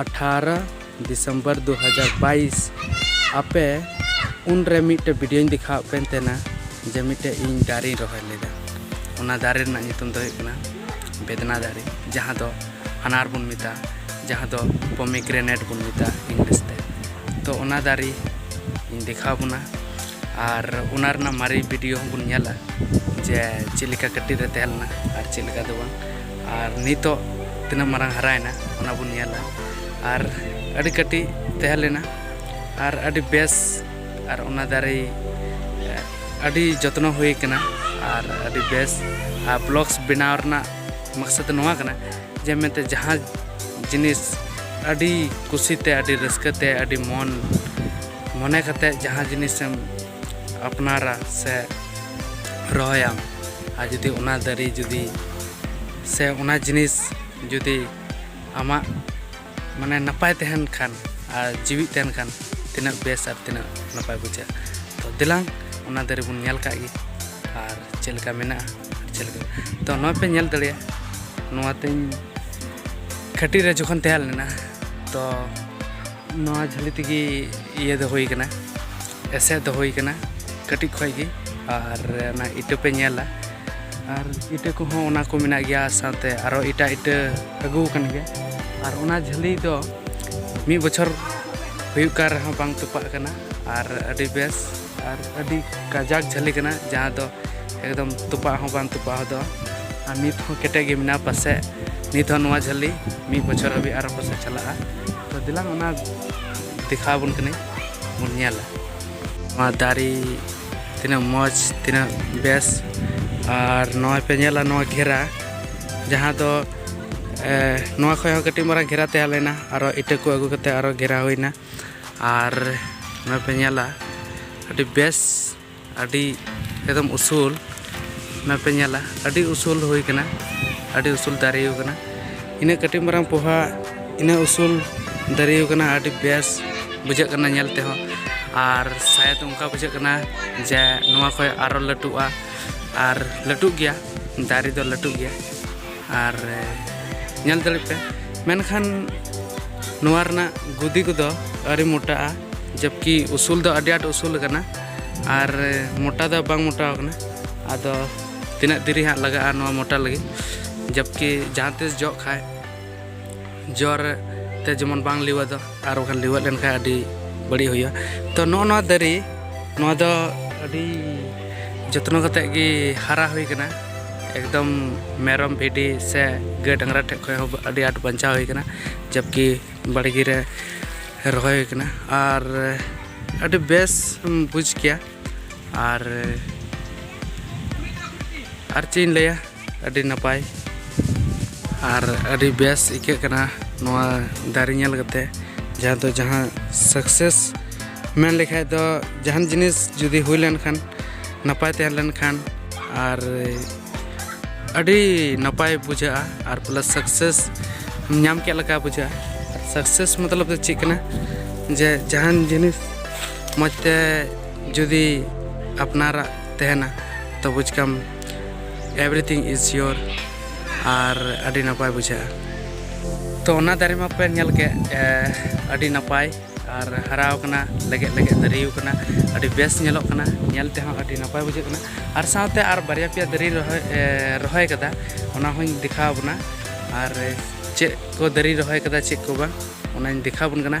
ᱟᱴᱷᱟᱨᱚ ᱫᱤᱥᱚᱢᱵᱚᱨ ᱫᱩ ᱦᱟᱡᱟᱨ ᱵᱟᱭᱤᱥ ᱟᱯᱮ ᱩᱱᱨᱮ ᱢᱤᱫᱴᱮᱡ ᱵᱷᱤᱰᱤᱭᱳᱧ ᱫᱮᱠᱷᱟᱣᱟᱫ ᱯᱮ ᱛᱟᱦᱮᱱᱟ ᱡᱮ ᱢᱤᱫᱴᱮᱡ ᱤᱧ ᱫᱟᱨᱮᱧ ᱨᱚᱦᱚᱭ ᱞᱮᱫᱟ ᱚᱱᱟ ᱫᱟᱨᱮ ᱨᱮᱱᱟᱜ ᱧᱩᱛᱩᱢ ᱫᱚ ᱦᱩᱭᱩᱜ ᱠᱟᱱᱟ ᱵᱮᱫᱽᱱᱟ ᱫᱟᱨᱮ ᱡᱟᱦᱟᱸ ᱫᱚ ᱟᱱᱟᱨ ᱵᱚᱱ ᱢᱮᱛᱟᱜᱼᱟ ᱡᱟᱦᱟᱸ ᱫᱚ ᱯᱚᱢᱤᱜᱨᱮᱱᱮᱴ ᱵᱚᱱ ᱢᱮᱛᱟᱜᱼᱟ ᱤᱝᱞᱤᱥ ᱛᱮ ᱛᱚ ᱚᱱᱟ ᱫᱟᱨᱮ ᱤᱧ ᱫᱮᱠᱷᱟᱣ ᱵᱚᱱᱟ ᱟᱨ ᱚᱱᱟ ᱨᱮᱱᱟᱜ ᱢᱟᱨᱮ ᱵᱷᱤᱰᱤᱭᱳ ᱦᱚᱸᱵᱚᱱ ᱧᱮᱞᱟ ᱡᱮ ᱪᱮᱫ ᱞᱮᱠᱟ ᱠᱟᱹᱴᱤᱡ ᱨᱮ ᱛᱟᱦᱮᱸ ᱞᱮᱱᱟ ᱟᱨ ᱪᱮᱫ ᱞᱮᱠᱟ ᱫᱚ ᱵᱟᱝ ᱟᱨ ᱱᱤᱛᱚᱜ ᱛᱤᱱᱟᱹᱜ ᱢᱟᱨᱟᱝ ᱦᱟᱨᱟᱭᱮᱱᱟ ᱚᱱᱟ ᱵᱚᱱ ᱧᱮᱞᱟ ᱟᱨ ᱟᱹᱰᱤ ᱠᱟᱹᱴᱤᱡ ᱛᱟᱦᱮᱸ ᱞᱮᱱᱟ ᱟᱨ ᱟᱹᱰᱤ ᱵᱮᱥ ᱟᱨ ᱚᱱᱟ ᱫᱟᱨᱮ ᱟᱹᱰᱤ ᱡᱚᱛᱱᱚ ᱦᱩᱭ ᱠᱟᱱᱟ ᱟᱨ ᱟᱹᱰᱤ ᱵᱮᱥ ᱟᱨ ᱵᱞᱚᱜᱥ ᱵᱮᱱᱟᱣ ᱨᱮᱱᱟᱜ ᱢᱟᱠᱥᱚᱫ ᱫᱚ ᱱᱚᱣᱟ ᱠᱟᱱᱟ ᱡᱮ ᱢᱮᱱᱛᱮ ᱡᱟᱦᱟᱸ ᱡᱤᱱᱤᱥ ᱟᱹᱰᱤ ᱠᱩᱥᱤᱛᱮ ᱟᱹᱰᱤ ᱨᱟᱹᱥᱠᱟᱹᱛᱮ ᱟᱹᱰᱤ ᱢᱚᱱ ᱢᱚᱱᱮ ᱠᱟᱛᱮᱫ ᱡᱟᱦᱟᱸ ᱡᱤᱱᱤᱥᱮᱢ ᱟᱯᱱᱟᱨᱟ ᱥᱮ ᱨᱚᱦᱚᱭᱟᱢ ᱟᱨ ᱡᱩᱫᱤ ᱚᱱᱟ ᱫᱟᱨᱮ ᱡᱩᱫᱤ ᱥᱮ ᱚᱱᱟ ᱡᱤᱱᱤᱥ ᱡᱩᱫᱤ ᱟᱢᱟᱜ ᱢᱟᱱᱮ ᱱᱟᱯᱟᱭ ᱛᱟᱦᱮᱱ ᱠᱷᱟᱱ ᱟᱨ ᱡᱤᱣᱤᱫ ᱛᱟᱦᱮᱱ ᱠᱷᱟᱱ ᱛᱤᱱᱟᱹᱜ ᱵᱮᱥ ᱟᱨ ᱛᱤᱱᱟᱹᱜ ᱱᱟᱯᱟᱭ ᱵᱩᱡᱷᱟᱹᱜᱼᱟ ᱛᱚ ᱫᱮᱞᱟᱝ ᱚᱱᱟ ᱫᱟᱨᱮ ᱵᱚᱱ ᱧᱮᱞ ᱠᱟᱜ ᱜᱮ ᱟᱨ ᱪᱮᱫ ᱞᱮᱠᱟ ᱢᱮᱱᱟᱜᱼᱟ ᱪᱮᱫ ᱞᱮᱠᱟ ᱛᱚ ᱱᱚᱣᱟ ᱯᱮ ᱧᱮᱞ ᱫᱟᱲᱮᱭᱟᱜᱼᱟ ᱱᱚᱣᱟᱛᱮᱧ ᱠᱟᱹᱴᱤᱡ ᱨᱮ ᱡᱚᱠᱷᱚᱱ ᱛᱟᱦᱮᱸ ᱞᱮᱱᱟ ᱛᱚ ᱱᱚᱣᱟ ᱡᱷᱟᱹᱞᱤ ᱛᱮᱜᱮ ᱤᱭᱟᱹ ᱫᱚ ᱦᱩᱭ ᱠᱟᱱᱟ ᱮᱥᱮᱫ ᱫᱚ ᱦᱩᱭ ᱠᱟᱱᱟ ᱠᱟᱹᱴᱤᱡ ᱠᱷᱚᱡ ᱜᱮ ᱟᱨ ᱚᱱᱟ ᱤᱴᱟᱹ ᱯᱮ ᱧᱮᱞᱟ ᱟᱨ ᱤᱴᱟᱹ ᱠᱚᱦᱚᱸ ᱚᱱᱟ ᱠᱚ ᱢᱮᱱᱟᱜ ᱜᱮᱭᱟ ᱥᱟᱶᱛᱮ ᱟᱨᱚ ᱮᱴᱟᱜ ᱤᱴᱟᱹ ᱟᱹᱜᱩ ᱟᱠᱟᱱ ᱜᱮᱭᱟ ᱟᱨ ᱚᱱᱟ ᱡᱷᱟᱹᱞᱤ ᱫᱚ ᱢᱤᱫ ᱵᱚᱪᱷᱚᱨ ᱦᱩᱭᱩᱜ ᱠᱟᱱ ᱨᱮᱦᱚᱸ ᱵᱟᱝ ᱛᱚᱯᱟᱜ ᱠᱟᱱᱟ ᱟᱨ ᱟᱹᱰᱤ ᱵᱮᱥ ᱟᱨ ᱟᱹᱰᱤ ᱠᱟᱡᱟᱠ ᱡᱷᱟᱹᱞᱤ ᱠᱟᱱᱟ ᱡᱟᱦᱟᱸ ᱫᱚ ᱮᱠᱫᱚᱢ ᱛᱚᱯᱟᱜ ᱦᱚᱸ ᱵᱟᱝ ᱛᱚᱯᱟᱜ ᱦᱚᱫᱚᱜᱼᱟ ᱟᱨ ᱱᱤᱛ ᱦᱚᱸ ᱠᱮᱴᱮᱡ ᱜᱮ ᱢᱮᱱᱟᱜᱼᱟ ᱯᱟᱥᱮᱡ ᱱᱤᱛ ᱦᱚᱸ ᱱᱚᱣᱟ ᱡᱷᱟᱹᱞᱤ ᱢᱤᱫ ᱵᱚᱪᱷᱚᱨ ᱦᱟᱹᱵᱤᱡ ᱟᱨᱚ ᱯᱟᱥᱮᱡ ᱪᱟᱞᱟᱜᱼᱟ ᱛᱚ ᱫᱮᱞᱟᱝ ᱚᱱᱟ ᱫᱮᱠᱷᱟᱣ ᱟᱵᱚᱱ ᱠᱟᱹᱱᱟᱹᱧ ᱵᱚᱱ ᱧᱮᱞᱟ ᱱᱚᱣᱟ ᱫᱟᱨᱮ ᱛᱤᱱᱟᱹᱜ ᱢᱚᱡᱽ ᱛᱤᱱᱟᱹᱜ ᱵᱮᱥ ᱟᱨ ᱱᱚᱜᱼᱚᱭ ᱯᱮ ᱧᱮᱞᱟ ᱱᱚᱣᱟ ᱜᱷᱮᱨᱟ ᱡᱟᱦᱟᱸ ᱫᱚ ᱱᱚᱣᱟ ᱠᱷᱚᱡ ᱦᱚᱸ ᱠᱟᱹᱴᱤᱡ ᱢᱟᱨᱟᱝ ᱜᱷᱮᱨᱟ ᱛᱟᱦᱮᱸ ᱞᱮᱱᱟ ᱟᱨᱚ ᱤᱴᱟᱹ ᱠᱚ ᱟᱹᱜᱩ ᱠᱟᱛᱮᱫ ᱟᱨᱚ ᱜᱷᱮᱨᱟ ᱦᱩᱭᱱᱟ ᱟᱨ ᱱᱚᱣᱟ ᱯᱮ ᱧᱮᱞᱟ ᱟᱹᱰᱤ ᱵᱮᱥ ᱟᱹᱰᱤ ᱮᱠᱫᱚᱢ ᱩᱥᱩᱞ ᱱᱚᱣᱟ ᱯᱮ ᱧᱮᱞᱟ ᱟᱹᱰᱤ ᱩᱥᱩᱞ ᱦᱩᱭ ᱠᱟᱱᱟ ᱟᱹᱰᱤ ᱩᱥᱩᱞ ᱫᱟᱨᱮ ᱠᱟᱱᱟ ᱤᱱᱟᱹᱜ ᱠᱟᱹᱴᱤᱡ ᱢᱟᱨᱟᱝ ᱯᱚᱦᱟ ᱤᱱᱟᱹᱜ ᱩᱥᱩᱞ ᱫᱟᱨᱮ ᱠᱟᱱᱟ ᱟᱹᱰᱤ ᱵᱮᱥ ᱵᱩᱡᱷᱟᱹᱜ ᱠᱟᱱᱟ ᱧᱮᱞ ᱛᱮᱦᱚᱸ ᱟᱨ ᱥᱟᱭᱮᱫ ᱚᱱᱠᱟ ᱵᱩᱡᱷᱟᱹᱜ ᱠᱟᱱᱟ ᱡᱮ ᱱᱚᱣᱟ ᱠᱷᱚᱡ ᱟᱨᱚ ᱞᱟᱹᱴᱩᱜᱼᱟ ᱟᱨ ᱞᱟᱹᱴᱩᱜ ᱜᱮᱭᱟ ᱫᱟᱨᱮ ᱫᱚ ᱞᱟᱹᱴᱩᱜ ᱜᱮᱭᱟ ᱟᱨ ᱧᱮᱞ ᱫᱟᱲᱮᱜ ᱯᱮ ᱢᱮᱱᱠᱷᱟᱱ ᱱᱚᱣᱟ ᱨᱮᱱᱟᱜ ᱜᱩᱫᱤ ᱠᱚᱫᱚ ᱟᱹᱰᱤ ᱢᱚᱴᱟᱜᱼᱟ ᱡᱚᱵᱠᱤ ᱩᱥᱩᱞ ᱫᱚ ᱟᱹᱰᱤ ᱟᱸᱴ ᱩᱥᱩᱞ ᱟᱠᱟᱱᱟ ᱟᱨ ᱢᱚᱴᱟ ᱫᱚ ᱵᱟᱝ ᱢᱚᱴᱟ ᱟᱠᱟᱱᱟ ᱟᱫᱚ ᱛᱤᱱᱟᱹᱜ ᱫᱤᱨᱤ ᱦᱟᱸᱜ ᱞᱟᱜᱟᱜᱼᱟ ᱱᱚᱣᱟ ᱢᱚᱴᱟ ᱞᱟᱹᱜᱤᱫ ᱡᱚᱵᱠᱤ ᱡᱟᱦᱟᱸ ᱛᱤᱥ ᱡᱚᱜ ᱠᱷᱟᱱ ᱡᱚᱨ ᱛᱮ ᱡᱮᱢᱚᱱ ᱵᱟᱝ ᱞᱤᱣᱟ ᱫᱚ ᱟᱨ ᱵᱟᱠᱷᱟᱱ ᱞᱤᱣᱟ ᱞᱮᱱ ᱠᱷᱟᱱ ᱟᱹᱰᱤ ᱵᱟᱹᱲᱤᱡ ᱦᱩᱭᱩᱜᱼᱟ ᱛᱚ ᱱᱚᱜᱼᱚ ᱱᱚᱣᱟ ᱫᱟᱨᱮ ᱱᱚᱣᱟ ᱫᱚ ᱟᱹᱰᱤ ᱡᱚᱛᱱᱚ ᱠᱟᱛᱮ ᱜᱮ ᱦᱟᱨᱟ ᱦᱩᱭ ᱠᱟᱱᱟ ᱮᱠᱫᱚᱢ ᱢᱮᱨᱚᱢ ᱵᱷᱤᱰᱤ ᱥᱮ ᱜᱟᱹᱭ ᱰᱟᱝᱨᱟ ᱴᱷᱮᱡ ᱠᱷᱚᱡ ᱦᱚᱸ ᱟᱹᱰᱤ ᱟᱸᱴ ᱵᱟᱧᱪᱟᱣ ᱦᱩᱭ ᱠᱟᱱᱟ ᱡᱚᱵᱠᱤ ᱵᱟᱲᱜᱮ ᱨᱮ ᱨᱚᱦᱚᱭ ᱦᱩᱭ ᱠᱟᱱᱟ ᱟᱨ ᱟᱹᱰᱤ ᱵᱮᱥ ᱵᱩᱡᱽ ᱠᱮᱭᱟ ᱟᱨ ᱟᱨ ᱪᱮᱫ ᱤᱧ ᱞᱟᱹᱭᱟ ᱟᱹᱰᱤ ᱱᱟᱯᱟᱭ ᱟᱨ ᱟᱹᱰᱤ ᱵᱮᱥ ᱟᱹᱭᱠᱟᱹᱜ ᱠᱟᱱᱟ ᱱᱚᱣᱟ ᱫᱟᱨᱮ ᱧᱮᱞ ᱠᱟᱛᱮ ᱡᱟᱦᱟᱸ ᱫᱚ ᱡᱟᱦᱟᱸ ᱥᱟᱠᱥᱮᱥ ᱢᱮᱱ ᱞᱮᱠᱷᱟᱡ ᱫᱚ ᱡᱟᱦᱟᱱ ᱡᱤᱱᱤᱥ ᱡᱩᱫᱤ ᱦᱩᱭ ᱞᱮᱱᱠᱷᱟᱱ ᱱᱟᱯᱟᱭ ᱛᱟᱦᱮᱸ ᱞᱮᱱᱠᱷᱟᱱ ᱟᱨ ᱟᱹᱰᱤ ᱱᱟᱯᱟᱭ ᱵᱩᱡᱷᱟᱹᱜᱼᱟ ᱟᱨ ᱯᱞᱟᱥ ᱥᱟᱠᱥᱮᱥ ᱧᱟᱢ ᱠᱮᱫ ᱞᱮᱠᱟ ᱵᱩᱡᱷᱟᱹᱜᱼᱟ ᱥᱟᱠᱥᱮᱥ ᱢᱚᱛᱞᱚᱵ ᱫᱚ ᱪᱮᱫ ᱠᱟᱱᱟ ᱡᱮ ᱡᱟᱦᱟᱱ ᱡᱤᱱᱤᱥ ᱢᱚᱡᱽ ᱛᱮ ᱡᱩᱫᱤ ᱟᱯᱱᱟᱨᱟᱜ ᱛᱟᱦᱮᱱᱟ ᱛᱚ ᱵᱩᱡᱽ ᱠᱟᱢ ᱮᱵᱷᱨᱤᱛᱷᱤᱝ ᱤᱡᱽ ᱥᱤᱭᱳᱨ ᱟᱨ ᱟᱹᱰᱤ ᱱᱟᱯᱟᱭ ᱵᱩᱡᱷᱟᱹᱜᱼᱟ ᱛᱚ ᱚᱱᱟ ᱫᱟᱨᱮ ᱢᱟᱯᱮ ᱧᱮᱞ ᱠᱮᱫ ᱟᱹᱰᱤ ᱱᱟᱯᱟᱭ ᱟᱨ ᱦᱟᱨᱟᱣ ᱠᱟᱱᱟ ᱞᱮᱜᱮᱫ ᱞᱮᱜᱮᱫ ᱫᱟᱨᱮᱭ ᱠᱟᱱᱟ ᱟᱹᱰᱤ ᱵᱮᱥ ᱧᱮᱞᱚᱜ ᱠᱟᱱᱟ ᱧᱮᱞ ᱛᱮᱦᱚᱸ ᱟᱹᱰᱤ ᱱᱟᱯᱟᱭ ᱵᱩᱡᱷᱟᱹᱜ ᱠᱟᱱᱟ ᱟᱨ ᱥᱟᱶᱛᱮ ᱟᱨ ᱵᱟᱨᱭᱟ ᱯᱮᱭᱟ ᱫᱟᱨᱮ ᱨᱚᱦᱚᱭ ᱨᱚᱦᱚᱭ ᱠᱟᱫᱟ ᱚᱱᱟ ᱦᱚᱸᱧ ᱫᱮᱠᱷᱟᱣ ᱵᱚᱱᱟ ᱟᱨ ᱪᱮᱫ ᱠᱚ ᱫᱟᱨᱮ ᱨᱚᱦᱚᱭ ᱠᱟᱫᱟ ᱪᱮᱫ ᱠᱚ ᱵᱟᱝ ᱚᱱᱟᱧ ᱫᱮᱠᱷᱟᱣ ᱵᱚᱱ ᱠᱟᱱᱟ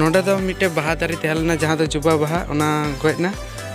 ᱱᱚᱰᱮ ᱫᱚ ᱢᱤᱫᱴᱮᱱ ᱵᱟᱦᱟ ᱫᱟᱨᱮ ᱛᱟᱦᱮᱸ ᱞᱮᱱᱟ ᱡᱟᱦᱟᱸ ᱫᱚ ᱡᱩᱵᱟ ᱵᱟᱦᱟ ᱚᱱᱟ ᱜᱚᱡ ᱮᱱᱟ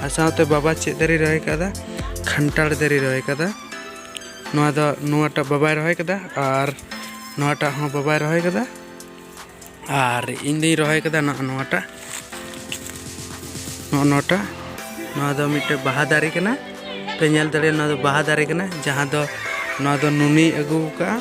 ᱟᱨ ᱥᱟᱶᱛᱮ ᱵᱟᱵᱟ ᱪᱮᱫ ᱫᱟᱨᱮ ᱨᱚᱦᱚᱭ ᱠᱟᱫᱟ ᱠᱷᱟᱱᱴᱟᱲ ᱫᱟᱨᱮ ᱨᱚᱦᱚᱭ ᱠᱟᱫᱟ ᱱᱚᱣᱟ ᱫᱚ ᱱᱚᱣᱟᱴᱟᱜ ᱵᱟᱵᱟᱭ ᱨᱚᱦᱚᱭ ᱠᱟᱫᱟ ᱟᱨ ᱱᱚᱣᱟᱴᱟᱜ ᱦᱚᱸ ᱵᱟᱵᱟᱭ ᱨᱚᱦᱚᱭ ᱠᱟᱫᱟ ᱟᱨ ᱤᱧ ᱫᱩᱧ ᱨᱚᱦᱚᱭ ᱠᱟᱫᱟ ᱱᱚᱜᱼᱚ ᱱᱚᱣᱟᱴᱟᱜ ᱱᱚᱜᱼᱚ ᱱᱚᱣᱟᱴᱟᱜ ᱱᱚᱣᱟ ᱫᱚ ᱢᱤᱫᱴᱮᱱ ᱵᱟᱦᱟ ᱫᱟᱨᱮ ᱠᱟᱱᱟ ᱯᱮ ᱧᱮᱞ ᱫᱟᱲᱮᱭᱟᱜᱼᱟ ᱱᱚᱣᱟ ᱫᱚ ᱵᱟᱦᱟ ᱫᱟᱨᱮ ᱠᱟᱱᱟ ᱡᱟᱦᱟᱸ ᱫᱚ ᱱᱚᱣᱟ ᱫᱚ ᱱᱩᱱᱤᱭ ᱟᱹᱜᱩ ᱠᱟᱜᱼᱟ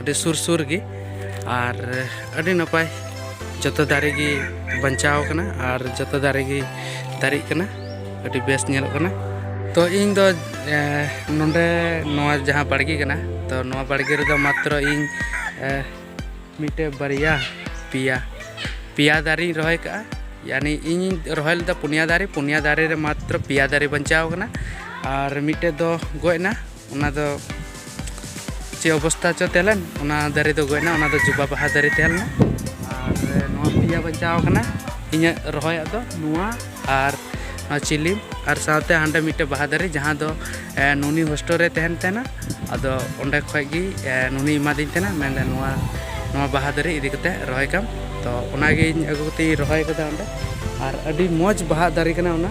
ᱟᱹᱰᱤ ᱥᱩᱨ ᱥᱩᱨ ᱜᱮ ᱟᱨ ᱟᱹᱰᱤ ᱱᱟᱯᱟᱭ ᱡᱚᱛᱚ ᱫᱟᱨᱮ ᱜᱮ ᱵᱟᱧᱪᱟᱣ ᱠᱟᱱᱟ ᱟᱨ ᱡᱚᱛᱚ ᱫᱟᱨᱮ ᱜᱮ ᱫᱟᱨᱮᱜ ᱠᱟᱱᱟ ᱟᱹᱰᱤ ᱵᱮᱥ ᱧᱮᱞᱚᱜ ᱠᱟᱱᱟ ᱛᱚ ᱤᱧ ᱫᱚ ᱱᱚᱰᱮ ᱱᱚᱣᱟ ᱡᱟᱦᱟᱸ ᱵᱟᱲᱜᱮ ᱠᱟᱱᱟ ᱛᱚ ᱱᱚᱣᱟ ᱵᱟᱲᱜᱮ ᱨᱮᱫᱚ ᱢᱟᱛᱨᱚ ᱤᱧ ᱢᱤᱫᱴᱮᱡ ᱵᱟᱨᱭᱟ ᱯᱮᱭᱟ ᱯᱮᱭᱟ ᱫᱟᱨᱮᱧ ᱨᱚᱦᱚᱭ ᱠᱟᱜᱼᱟ ᱭᱟᱱᱤ ᱤᱧᱤᱧ ᱨᱚᱦᱚᱭ ᱞᱮᱫᱟ ᱯᱩᱱᱭᱟ ᱫᱟᱨᱮ ᱯᱩᱱᱭᱟ ᱫᱟᱨᱮ ᱨᱮ ᱢᱟᱛᱨᱚ ᱯᱮᱭᱟ ᱫᱟᱨᱮ ᱵᱟᱧᱪᱟᱣ ᱠᱟᱱᱟ ᱟᱨ ᱢᱤᱫᱴᱮᱡ ᱫᱚ ᱜᱚᱡ ᱮᱱᱟ ᱚᱱᱟ ᱫᱚ ᱪᱮᱫ ᱚᱵᱚᱥᱛᱟ ᱪᱚ ᱛᱟᱦᱮᱸ ᱞᱮᱱ ᱚᱱᱟ ᱫᱟᱨᱮ ᱫᱚ ᱜᱚᱡ ᱮᱱᱟ ᱚᱱᱟ ᱫᱚ ᱡᱩᱵᱟ ᱵᱟᱦᱟ ᱫᱟᱨᱮ ᱛᱟᱦᱮᱸ ᱞᱮᱱᱟ ᱟᱨ ᱱᱚᱣᱟ ᱯᱮᱭᱟ ᱵᱟᱧᱪᱟᱣ ᱟᱠᱟᱱᱟ ᱤᱧᱟᱹᱜ ᱨᱚᱦᱚᱭᱟᱜ ᱫᱚ ᱱᱚᱣᱟ ᱟᱨ ᱱᱚᱣᱟ ᱪᱤᱞᱤᱢ ᱟᱨ ᱥᱟᱶᱛᱮ ᱦᱟᱸᱰᱮ ᱢᱤᱫᱴᱮᱱ ᱵᱟᱦᱟ ᱫᱟᱨᱮ ᱡᱟᱦᱟᱸ ᱫᱚ ᱱᱩᱱᱤ ᱦᱳᱥᱴᱮᱞ ᱨᱮ ᱛᱟᱦᱮᱱ ᱛᱟᱦᱮᱱᱟ ᱟᱫᱚ ᱚᱸᱰᱮ ᱠᱷᱚᱡ ᱜᱮ ᱱᱩᱱᱤ ᱮᱢᱟᱫᱤᱧ ᱛᱟᱦᱮᱱᱟ ᱢᱮᱱᱫᱟ ᱱᱚᱣᱟ ᱱᱚᱣᱟ ᱵᱟᱦᱟ ᱫᱟᱨᱮ ᱤᱫᱤ ᱠᱟᱛᱮ ᱨᱚᱦᱚᱭ ᱠᱟᱢ ᱛᱚ ᱚᱱᱟᱜᱤᱧ ᱟᱹᱜᱩ ᱠᱟᱛᱮᱧ ᱨᱚᱦᱚᱭ ᱠᱟᱫᱟ ᱚᱸᱰᱮ ᱟᱨ ᱟᱹᱰᱤ ᱢᱚᱡᱽ ᱵᱟᱦᱟ ᱫᱟᱨᱮ ᱠᱟᱱᱟ ᱚᱱᱟ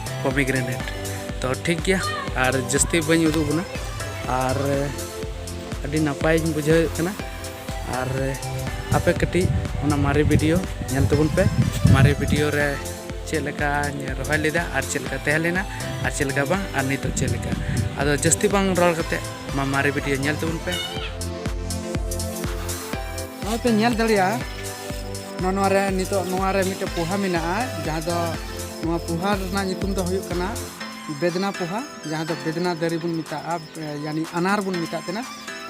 ᱯᱚᱢᱤᱜᱨᱮᱱᱮᱴ ᱛᱚ ᱴᱷᱤᱠ ᱜᱮᱭᱟ ᱟᱨ ᱡᱟᱹᱥᱛᱤ ᱵᱟᱹᱧ ᱩᱫᱩᱜ ᱵᱚᱱᱟ ᱟᱨ ᱟᱹᱰᱤ ᱱᱟᱯᱟᱭᱤᱧ ᱵᱩᱡᱷᱟᱹᱣᱮᱫ ᱠᱟᱱᱟ ᱟᱨ ᱟᱯᱮ ᱠᱟᱹᱴᱤᱡ ᱚᱱᱟ ᱢᱟᱨᱮ ᱵᱷᱤᱰᱤᱭᱳ ᱧᱮᱞ ᱛᱟᱵᱚᱱ ᱯᱮ ᱢᱟᱨᱮ ᱵᱷᱤᱰᱤᱭᱳ ᱨᱮ ᱪᱮᱫ ᱞᱮᱠᱟᱧ ᱨᱚᱦᱚᱭ ᱞᱮᱫᱟ ᱟᱨ ᱪᱮᱫ ᱞᱮᱠᱟ ᱛᱟᱦᱮᱸ ᱞᱮᱱᱟ ᱟᱨ ᱪᱮᱫ ᱞᱮᱠᱟ ᱵᱟᱝ ᱟᱨ ᱱᱤᱛᱚᱜ ᱪᱮᱫ ᱞᱮᱠᱟ ᱟᱫᱚ ᱡᱟᱹᱥᱛᱤ ᱵᱟᱝ ᱨᱚᱲ ᱠᱟᱛᱮ ᱢᱟ ᱢᱟᱨᱮ ᱵᱷᱤᱰᱤᱭᱳ ᱧᱮᱞ ᱛᱟᱵᱚᱱ ᱯᱮ ᱱᱚᱜᱼᱚᱭ ᱯᱮ ᱧᱮᱞ ᱫᱟᱲᱮᱭᱟᱜᱼᱟ ᱱᱚᱣᱟ ᱱᱚᱣᱟ ᱨᱮ ᱱᱤᱛᱚᱜ ᱱᱚᱣᱟ ᱨᱮ ᱢᱤᱫᱴᱮᱱ ᱯᱳᱦᱟ ᱢᱮᱱᱟᱜᱼᱟ ᱡᱟᱦᱟᱸ ᱫᱚ ᱱᱚᱣᱟ ᱯᱳᱦᱟ ᱨᱮᱱᱟᱜ ᱧᱩᱛᱩᱢ ᱫᱚ ᱦᱩᱭᱩᱜ ᱠᱟᱱᱟ ᱵᱮᱫᱽᱱᱟ ᱯᱳᱦᱟ ᱡᱟᱦᱟᱸ ᱫᱚ ᱵᱮᱫᱽᱱᱟ ᱫᱟᱨᱮ ᱵᱚᱱ ᱢᱮᱛᱟᱜᱼᱟ ᱭᱟᱱᱤ ᱟᱱᱟᱨ ᱵᱚᱱ ᱢᱮᱛᱟᱜ ᱠᱟᱱᱟ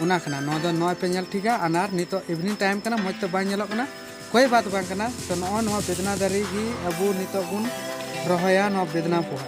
ᱚᱱᱟ ᱠᱟᱱᱟ ᱱᱚᱣᱟ ᱫᱚ ᱱᱚᱣᱟ ᱯᱮ ᱧᱮᱞ ᱴᱷᱤᱠᱟ ᱟᱱᱟᱨ ᱱᱤᱛᱚᱜ ᱤᱵᱷᱤᱱᱤᱝ ᱴᱟᱭᱤᱢ ᱠᱟᱱᱟ ᱢᱚᱡᱽ ᱛᱮ ᱵᱟᱝ ᱧᱮᱞᱚᱜ ᱠᱟᱱᱟ ᱠᱚᱭ ᱵᱟᱛ ᱵᱟᱝ ᱠᱟᱱᱟ ᱛᱚ ᱱᱚᱜᱼᱚᱭ ᱱᱚᱣᱟ ᱵᱮᱫᱽᱱᱟ ᱫᱟᱨᱮ ᱜᱮ ᱟᱵᱚ ᱱᱤᱛᱚᱜ ᱵᱚᱱ ᱨᱚᱦᱚᱭᱟ ᱱᱚᱣᱟ ᱵᱮᱫᱽᱱᱟ ᱯᱳᱦᱟ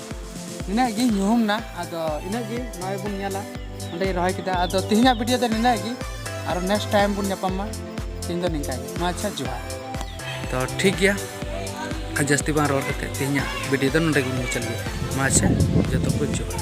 ᱤᱱᱟᱹᱜ ᱜᱮ ᱧᱩᱦᱩᱢ ᱱᱟ ᱟᱫᱚ ᱤᱱᱟᱹᱜ ᱜᱮ ᱱᱚᱜᱼᱚᱭ ᱵᱚᱱ ᱧᱮᱞᱟ ᱚᱸᱰᱮ ᱨᱚᱦᱚᱭ ᱠᱮᱫᱟ ᱟᱫᱚ ᱛᱮᱦᱮᱧᱟᱜ ᱵᱷᱤᱰᱤᱭᱳ ᱫᱚ ᱱᱤᱱᱟᱹᱜ ᱜᱮ ᱟᱨ ᱱᱮᱠᱥᱴ ᱴᱟᱭᱤᱢ ᱵᱚᱱ ᱧᱟᱯᱟᱢᱟ ᱛᱮᱦᱮᱧ ᱫᱚ ᱱᱤᱝᱠᱟ ᱜᱮ ᱢᱟ ᱟᱪᱪᱷᱟ ᱡᱚᱦᱟᱨ ᱛᱚ ᱴᱷᱤᱠ ᱜᱮᱭᱟ ᱡᱟᱹᱥᱛᱤ ᱵᱟᱝ ᱨᱚᱲ ᱠᱟᱛᱮ ᱛᱮᱦᱮᱧᱟᱜ ᱵᱷᱤᱰᱤᱭᱳ ᱫᱚ ᱱᱚᱰᱮ ᱜᱮ ᱢᱩᱪᱟᱹᱫ ᱜᱮᱭᱟ ᱢᱟ ᱟᱪᱪᱷᱟ ᱡᱚᱛᱚ ᱠᱚ ᱡᱚᱦᱟᱨ